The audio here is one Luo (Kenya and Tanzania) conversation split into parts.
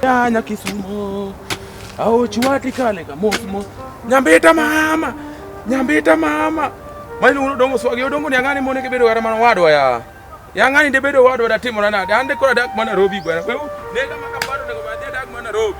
Nyanya kisumo au chiwati kale kamosmo nyambita mama nyambita mama mali uno dongo swagi odongo ni angani mone kebedo gara mana wadwa ya yangani de bedo wadwa da timo nana de ande kora dak mana robi bwana kwa nega maka bado nego badia dak mana robi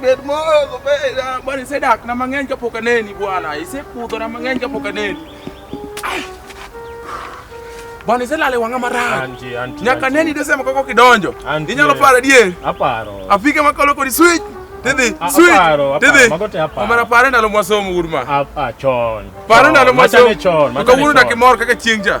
bet mogo bwana, isedak na mang'eny kapok aneni bwana, isekudho na mang'eny kapok aneni bwana, iselale wang'a marach nyaka neni desema koko kidonjo, inyalo paro adier, aparo apike makolo kodi switch Tidhi, sweet. Tidhi. Omera pare ndalo mwasomo urma. Ah, ah, chon. Pare ndalo mwasomo. Kawuono dakimor kaka chieng' cha.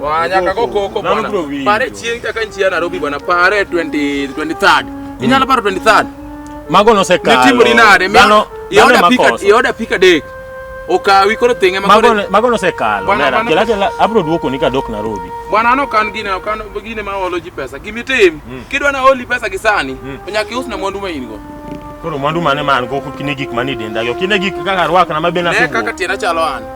Wanyaka go koko bwana. Pare chieng' kaka nchi ya Nairobi bwana, pare 20 23rd. Mm. Inyalo paro 23rd. Mago no se kalo. Nitimo ni nade? Mano yoda pika yoda pika dek. Okawi koro tenge mago ne mago no se kalo. Nera kila kila abro duoko ni kadok Nairobi. Bwana no kan gine kan gine ma olo ji pesa. Gimi tim. Mm. Kidwa na oli pesa gisani. Mm. Nyaka ius na mwandu ma in go. Koro mwandu mane man go kine gik mane denda yo. Kine gik kaka rwakna mabena. Ne kaka tiena chalo an.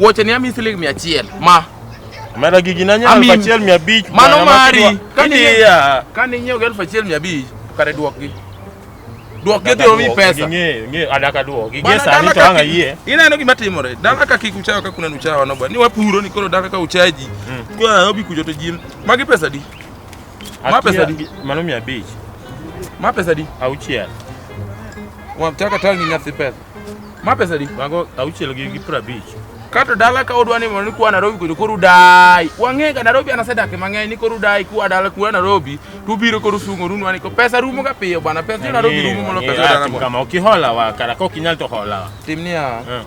Wuoche ni ami siling mia achiel ma Mera gigi na nyalo achiel mia abich. Mano mari. Kani ya. Kani nyiew elfu achiel mia abich kare duokgi. Duokgi dhi omi pesa. Ng'e ng'e adaka duokgi. Gie sani to anga yie. Ineno gima timore. Dala ka kik uchawa ka kuna uchawa no ba. Ni wapuro ni koro dala ka uchaji. Mm. Kwa obi kujo to jin. Magi pesa di. Ma pesa di. Mano mia abich. Ma pesa di. Auchiel. Wamtaka tangi nyathi pesa. Ma pesa di? Mago auchiel gi gi prabich. Kato dala ka odwa ni mondo kwa Nairobi kuno koru dai. Wang'e ga Nairobi anasedak mang'eny ni koru dai kwa dala kwa Nairobi to biro koru sungo runu ani ko pesa rumo ga piyo bwana pesa jo Nairobi rumo mondo pesa dala mo. Kama okihola wa kara ko kinyal to hola. Timnia. Eh.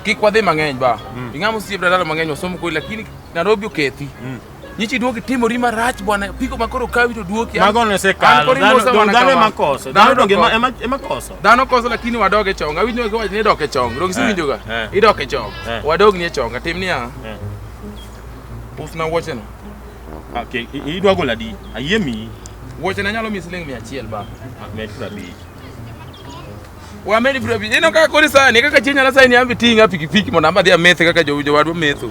Kik wadhi mang'eny ba. Mm. Ing'amo siep dala mang'eny wasomo koi lakini Nairobi okethi. Mm. Nyichi duoki timori marach bwana, piko ma koro kawi to duoki. Mago ne sekalo. Dhano ema koso. Dhano donge ema ema koso. Dhano koso lakini wadog e chonga. Awinjo ka wachni dok e chonga. Donge siwinjo ga. Eh, eh. Idok e chonga. Eh. Wadog ni e chonga. Tim niya. Usna wuochena. Okay, idwa gola di. Ayie mi. Wuochena nyalo mi siling 100 ba. Med 50. Wamed 50. Ino kaka kori sani kaka chienya na sani ambi tinga pikipiki mondo amadhi amethe kaka jowadwa metho.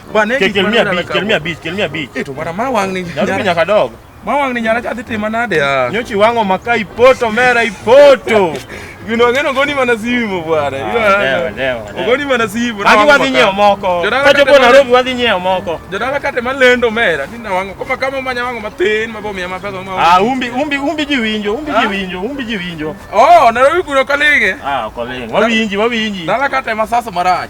Bwana Ke- kel mia abich kel mia abich kel mia abich Eto bwana ma wang ni. nyarubi nyara- nyaka dog Ma wang ni nyara cha dhi tima nade ya. nyochi wang'o maka ipoto mera ipoto Gino ngeno goni mana simu bwana. Ah, Iwa- dewa, dewa, dewa. Ogoni mana simu. agi wadhi nyiewo moko Jodala kachopo kata- narobi wadhi nyiewo moko Jodala kate malendo mera ni nawango kama kama manya wango mathin mabo miya mapesa ma. Ah, umbi umbi umbi ji winjo umbi ji Ah. winjo umbi ji winjo Oh, Nairobi kuno kalinge. ah koling wawinji wawinji Dala kate masaso marach.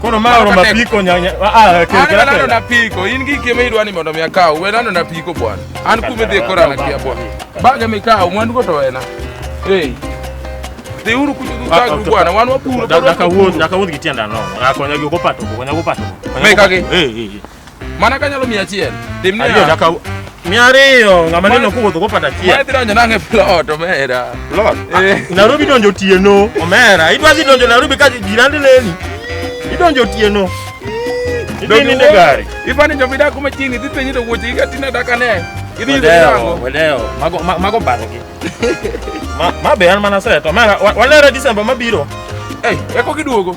Koro ma oro mapiko nyanya. Ah, ah kero kero. Nano na piko. In gi kime idwani mondo mi akaw. We nano na piko bwana. An kume dhi kora na kia bwana. Baga mi kaw mwandu go to ena. Hey. Dhi uru kuchu du kagu ah, bwana. Wan wapuro. Daka wuod, daka wuod gitienda no. Akonya gi ko pato, konya go pato. Me kage. Eh, eh. Mana kanyalo mia achiel. Tim ni ariyo nyaka mia ariyo ng'ama neno kowuotho kopanda achiel. Mane dhi donjo nang'e e plot omera. Plot? Eh. Nairobi donjo otieno omera. Idwa dhi donjo Nairobi ka jirani neni. Idonjo otieno. Idhi ninde gari. Ifani jo bidak kuma chini idhi penyi to wuoche gi atina daka ne. Idhi yudo nango. Wedeo. Mago mago bangi. Ma ma be an mana seto. Omera walere December mabiro. Eh, eko kiduogo.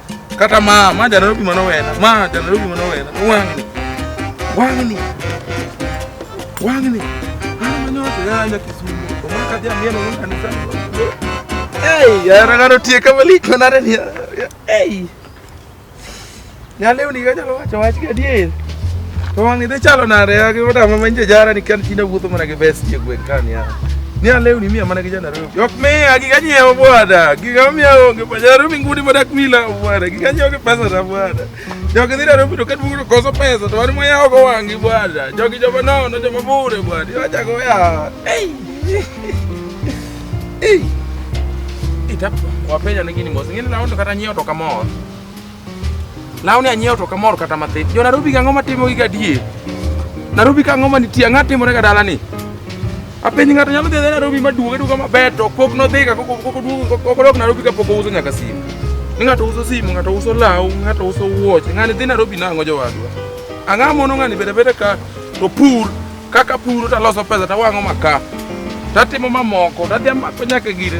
Kata ma ma jana rubi mano wena. Ma jana rubi mano wena. Wangni. Wangni. Wangni. Ana manyote ya nya kisumu. Omaka dia mieno no kanisa. Hey, ya ragaro tie kama lik manare ni. Hey. Nyaleo ni gaja lo wacho wach gadier. To wangni dhi chalo nare ya gi wada ma manje jara ni kan china wuotho mana gi vest ye gwen kan ya. Ni aleo ni mia mana gi jana rubi. Yok miya giga nyiewo bwana, giga miya onge pajaro mingudi modak mila bwana, giga nyiewo gi pesa na bwana. Jogi dhira robido ka duogo koso pesa to wan mwayawo go wangi bwana. Jogi joma nono joma bure bwana, iwacha go ya. Ei. Ei. Itap wapenya ni gini mos, ngine na ondo kata nyiewo to kamor. Lawni anyiewo to kamor kata mathin. Jo Nairobi gang'o matimo gi gadie? Nairobi kang'o manitie? Ang'o timore ga dalani? Apenj ng'ato nyalo dhi Nairobi maduong' aduga maber to pok nodhi ka kok oduog kok odok Nairobi ka pok ouso nyaka simu. Ni ng'ato uso simu, ng'ato uso law, ng'ato uso wuoche. Ng'ani dhi Nairobi nang'o jowadwa. Ang'a mono ng'ani bede bede ka to pur kaka puro taloso pesa tawang'o maka tatimo mamoko tadhi amako nyaka gire